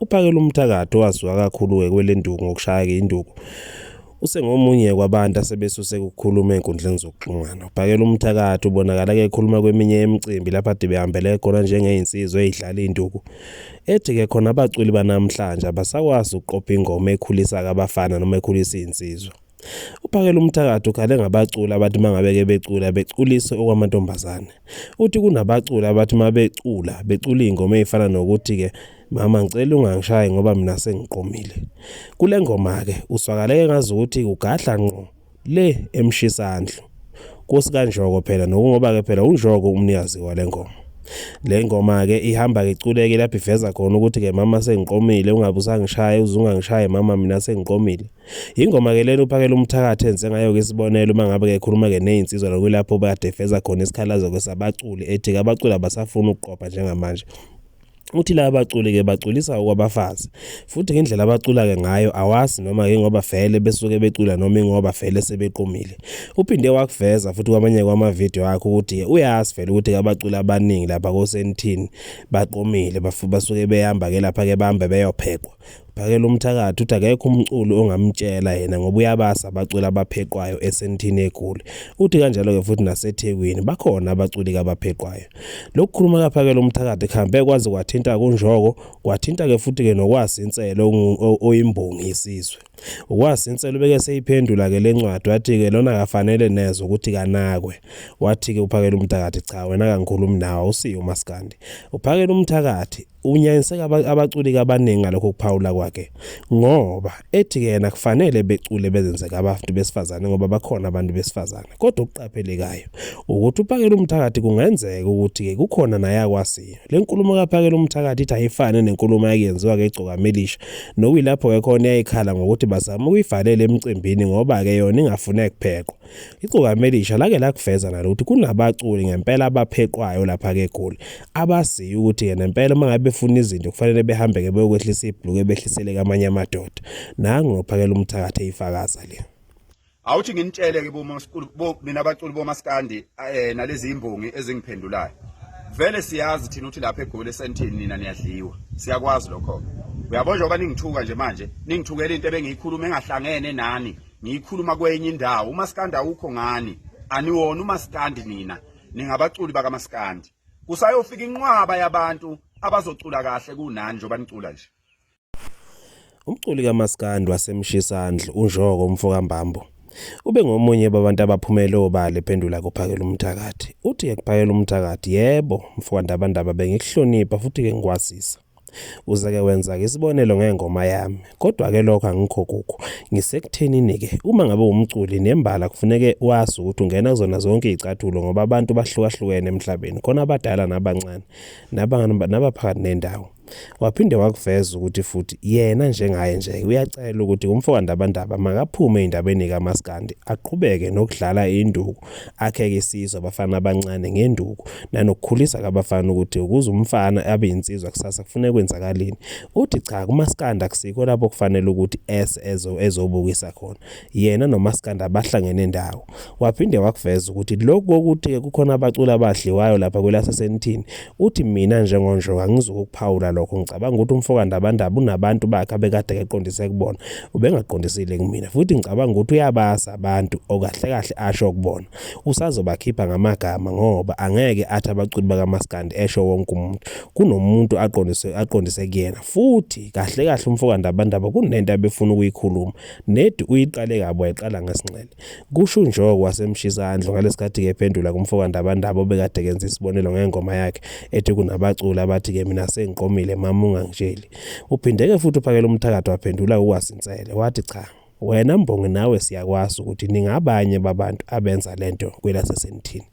uphakela umthakathi owasuka kakhulu-ke kwelenduku ngokushaya-ke induku usengomunye kwabantu asebesuse kukhuluma enkundleni zokuxhumana ubhakela umthakathi ubonakala ke ekhuluma kweminye yemicimbi lapho ade behambele khona njengeyinsizwa eyidlala induku ethi ke khona abaculi banamhlanje abasakwazi ukuqopha ingoma ekhulisa kabafana noma ekhulisa izinsizwa Uphakela umthakathi ukhale ngabaculi abathi mangabeke becula beculise okwamantombazane. Uthi kunabaculi abathi mabecula becula ingoma ezifana nokuthi ke mama ngicela ungangishayi ngoba mina sengiqomile. Kule ngoma ke uswakale engazi ukuthi ugadla ngqo le emshisandlo. Kusikanjoko phela nokungoba ke phela unjoko umnikazi wale ngoma. Le ngoma ke ihamba ke iculeke lapho iveza khona ukuthi ke mama sengiqomile ungabe usangishaye uzungangishaye mama mina sengiqomile. Ingoma ke lena uphakela umthakathi enze ngayo ke isibonelo uma ngabe kekhuluma ke nezinsizwa lokulapho badefeza khona isikhalazo ke sabaculi ethi abaculi abasafuni ukuqopha njengamanje uthi laba baculi ke baculisa okwabafazi futhi ngendlela abacula ke ngayo awazi noma ke ngoba vele besuke becula noma ingoba vele sebeqomile uphinde wakuveza futhi kwamanye kwama video akhe ukuthi uyazi vele ukuthi abaculi abaningi lapha kosenithini baqomile basuke behamba ke lapha ke bambe beyophekwa Phakela umthakathi uthi akekho umculi ongamtshela yena ngoba uyabasa abaculi abapheqwayo esentini egoli. Uthi kanjalo-ke futhi nasethekwini bakhona abaculi kabapheqwayo. Lokhu khuluma kaphakela umthakathi kuhambe kwaze kwathinta kunjoko kwathinta-ke futhi-ke nokwasi inselo oyimbongi isizwe. Ukwasi inselo ubeke seyiphendula-ke le ncwadi wathi-ke lona kafanele neze ukuthi kanakwe. Wathi-ke uphakela umthakathi cha wena kangikhulumi nawe awusiyo umaskandi. Uphakela umthakathi Unyanyiseka abaculi abaningi ngalokho kuphawula kwakhe ngoba ethi yena kufanele becule bezenzeka abantu besifazane ngoba bakhona abantu besifazane kodwa okuqaphelekayo ukuthi uphakela umthakathi kungenzeka ukuthi-ke kukhona nayakwasiyo le nkulumo kaphakela umthakathi ithi ayifane nenkulumo yakuyenziwa ke igcokamelisha nokuyilapho-ke khona yayikhala ngokuthi bazama ukuyivalela emcimbini ngoba-ke yona ingafune kupheqwa Igcokama elisha lake lakuveza nalo ukuthi kunabaculi ngempela abapheqwayo lapha ke eGoli abaziyo ukuthi ke nempela uma ngabe befuna izinto kufanele behambe ke beyokwehlisa ibhluke behlisele kamanye amadoda nangu ngophakela umthakathi eyifakaza le awuthi nginitshele ke bo nina abaculi bomaskandi eh, nalezi imbongi ezingiphendulayo vele siyazi thina ukuthi lapha eGoli esentini nina niyadliwa siyakwazi lokho uyabona njengoba ningithuka nje manje ningithukela into ebengiyikhuluma engahlangene nani ngiyikhuluma kwenye indawo umaskandi awukho ngani aniwona umaskandi nina ningabaculi bakamaskandi kusayofika inqwaba yabantu abazocula kahle kunani njengoba nicula nje umculi kamaskandi wasemshisandle unjoko umfokambambo ube ngomunye babantu abaphumele obala ephendula kuphakela umthakathi uthi ekuphakela umthakathi yebo mfowandabandaba bengikuhlonipha futhi ke ngikwazisa Uzeke wenza-ke isibonelo ngengoma yami, kodwa-ke lokho angikho kukho. Ngisekuthenini-ke, uma ngabe umculi nembala kufuneke wazi ukuthi ungena kuzona zonke iy'cathulo ngoba abantu bahlukahlukene emhlabeni, khona abadala nabancane, nabaphakathi nendawo. Waphinde wakuveza ukuthi futhi yena njengaye nje uyacela ukuthi umfoka Ndabandaba makaphume ey'ndabeni kamaskandi, aqhubeke nokudlala induku akheke isizwe abafana abancane ngenduku nanokukhulisa kabafana ukuthi ukuze umfana abe insizwa kusasa kufuneka kwenzakalini uthi cha kumaskanda kusikho lapho kufanele ukuthi ese ezo ezobukisa khona yena nomaskanda bahlangene ndawo waphinde wakuveza ukuthi lokho ukuthi kukhona abaculi abadliwayo lapha kwelasesenithini Uthi mina njengonjoko angizukukuphawula lokho ngicabanga ukuthi umfokandabandaba unabantu bakhe abekade keqondise kubona ubengaqondisile kumina futhi ngicabanga ukuthi uyabazi abantu okahle kahle asho kubona usazobakhipha ngamagama ngoba angeke athi abaculi bakamaskandi esho wonke umuntu kunomuntu aqondise aqondise kuyena futhi kahle kahle umfokandabandaba kunento abefuna ukuyikhuluma nedi uyiqale kabi wayiqala ngesinxele Kusho uNjoko waseMshizandlu ngalesikhathi ke ephendula kumfoka Ndabandaba obekade kenza isibonelo ngengoma yakhe ethi kunabaculi abathi ke mina sengiqomile mama ungangitsheli. Uphindeke futhi uphakela umthakathi waphendula kukwasinsele wathi cha wena mbongi nawe siyakwazi ukuthi ningabanye babantu abenza lento kwelasesenithini.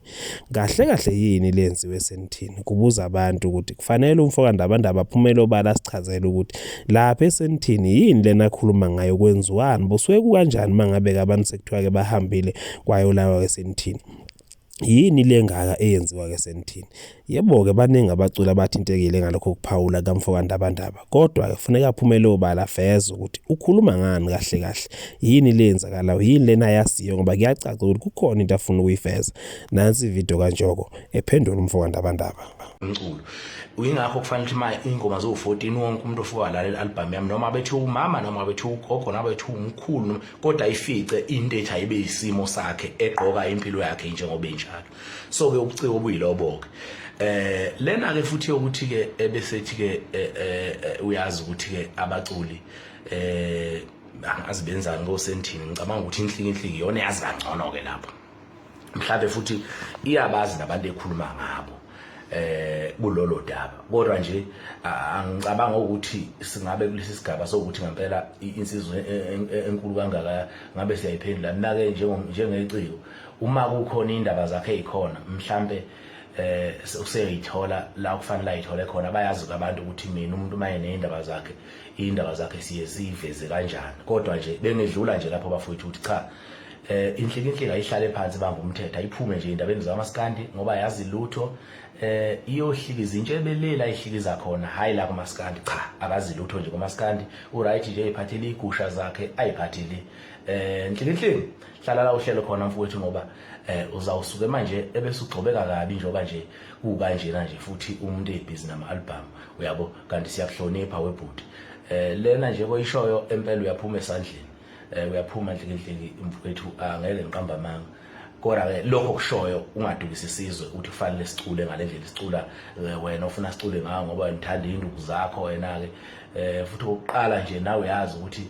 Kahle kahle yini lenziwe esenithini? Kubuza abantu ukuthi kufanele umfokandabandaba aphumele obala asichazele ukuthi lapha esenithini yini lena akhuluma ngayo kwenziwani busuke kukanjani mangabe-ke abantu sekuthiwa-ke bahambile kwayolawa esenithini yini le ngaka eyenziwa-ke esenithini Yebo-ke baningi abaculi abathintekile ngalokho kuphawula kukamfokandabandaba kodwa kufuneka aphumele obala aveze ukuthi ukhuluma ngani kahle kahle yini le yenzakalayo yini lena ayaziyo ngoba kuyacaca ukuthi kukhona into afuna ukuyiveza nansi ividiyo kanjoko ephendula umfokandabandaba umculo uyingakho kufanele ukuthi manje ingoma zo-14 wonke umuntu ofuka walalela i-albhamu yami noma abethi umama noma abethi ugogo noma abethi umkhulu kodwa ifice into ethi ayibe yisimo sakhe egqoka impilo yakhe njengoba enjalo so ke ubuciko obuyilobo ke eh lena ke futhi ukuthi ke ebesethi ke eh, eh, eh, uyazi ukuthi ke abaculi eh azibenzani ngosentini ngicabanga ukuthi inhliki inhliki yona yazi kangcono ke lapho mhlawumbe futhi iyabazi nabantu ekhuluma ngabo eh kulolo daba kodwa nje angicabanga ukuthi singabe kulesi sigaba sokuthi ngempela insizwe e, e, e, enkulu kangaka ngabe siyayiphendula mina ke njengeciko Uma kukhona indaba zakhe ezikhona mhlambe eh useyoyithola la kufanele ayithole khona bayazi abantu ukuthi mina umuntu maye nezindaba zakhe indaba zakhe siye siveze kanjani kodwa nje bengedlula nje lapho bafowethu ukuthi cha eh inhlikinhlika ayihlale phansi banga umthetho ayiphume nje indabeni zamaskandi ngoba yazi lutho eh iyohlika izintshe ebelele ayihlikiza khona hayi la kumaskandi cha akazi lutho nje kumaskandi uright nje iphathele igusha zakhe ayiphathele eh inhlikinhlika hlala la uhlelo khona mfowethu ngoba eh uzawusuke manje ebese ugxobeka kabi njengoba nje kukanjena nje futhi umuntu ebhizi nama album uyabo kanti siyakuhlonipha webhuti eh lena nje koyishoyo empela uyaphuma esandleni eh uyaphuma ndlekinhleki mfowethu angeke ngiqamba amanga kodwa ke lokho kushoyo ungadukisi isizwe ukuthi kufanele sicule ngalendlela sicula eh, wena ufuna sicule ngawo ngoba ngithanda induku zakho wena ke eh futhi ukuqala nje nawe yazi ukuthi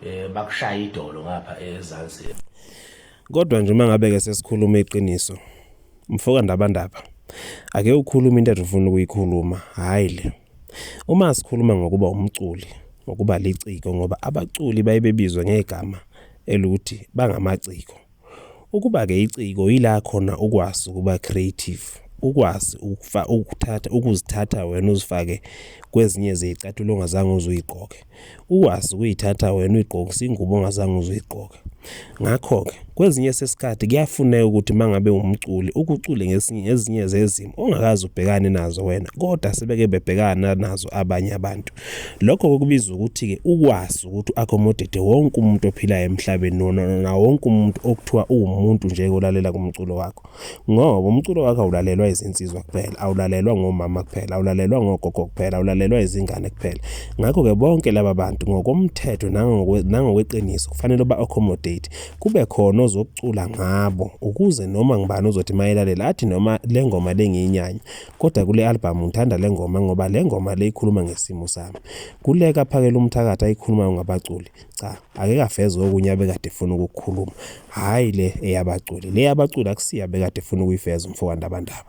eh bakushaya idolo ngapha ezansi kodwa nje uma ngabe ke sesikhuluma iqiniso mfoka ndabandaba ake ukhuluma into ufuna ukuyikhuluma hayi le uma sikhuluma ngokuba umculi ngokuba liciko ngoba abaculi baye bebizwe ngegama eluthi bangamaciko Ukuba-ke iciko yila khona ukwazi ukuba creative, ukwazi ukufa, ukuthatha, ukuzithatha wena uzifake kwezinye zeyicathulo ongazange uzuyigqoke. Ukwazi ukuyithatha wena uyigqokise ingubo ongazange uzuyigqoke. Ngakho-ke kwezinye sesikhathi kuyafuneka ukuthi mangabe umculi ukucule ngesinye ngezinye zezimo ongakazi ubhekane nazo wena kodwa sebeke bebhekana nazo abanye abantu. Lokho kokubizwa ukuthi-ke ukwazi ukuthi u-accommodate wonke umuntu ophilayo emhlabeni nona wonke umuntu okuthiwa uwumuntu nje olalela kumculo wakho. Ngoba umculo wakho awulalelwa izinsizwa kuphela, awulalelwa ngomama kuphela, awulalelwa ngogogo kuphela, awulalelwa izingane kuphela. Ngakho-ke bonke laba bantu ngokomthetho nangokweqiniso kufanele ba-accommodate. Kube khona ozokucula ngabo ukuze noma ngubani ozothi mayelalela athi noma le ngoma lengiyinyanya Kodwa kule albhamu ngithanda le ngoma ngoba le ngoma le ikhuluma ngesimo sami. Kule kaPhakela uMthakathi ayikhulumayo ngabaculi, cha ake kaveze okunye abekade efuna ukukukhuluma, hhayi le eyabaculi. Le yabaculi akusiyo abekade efuna ukuyiveza umfowandabandaba.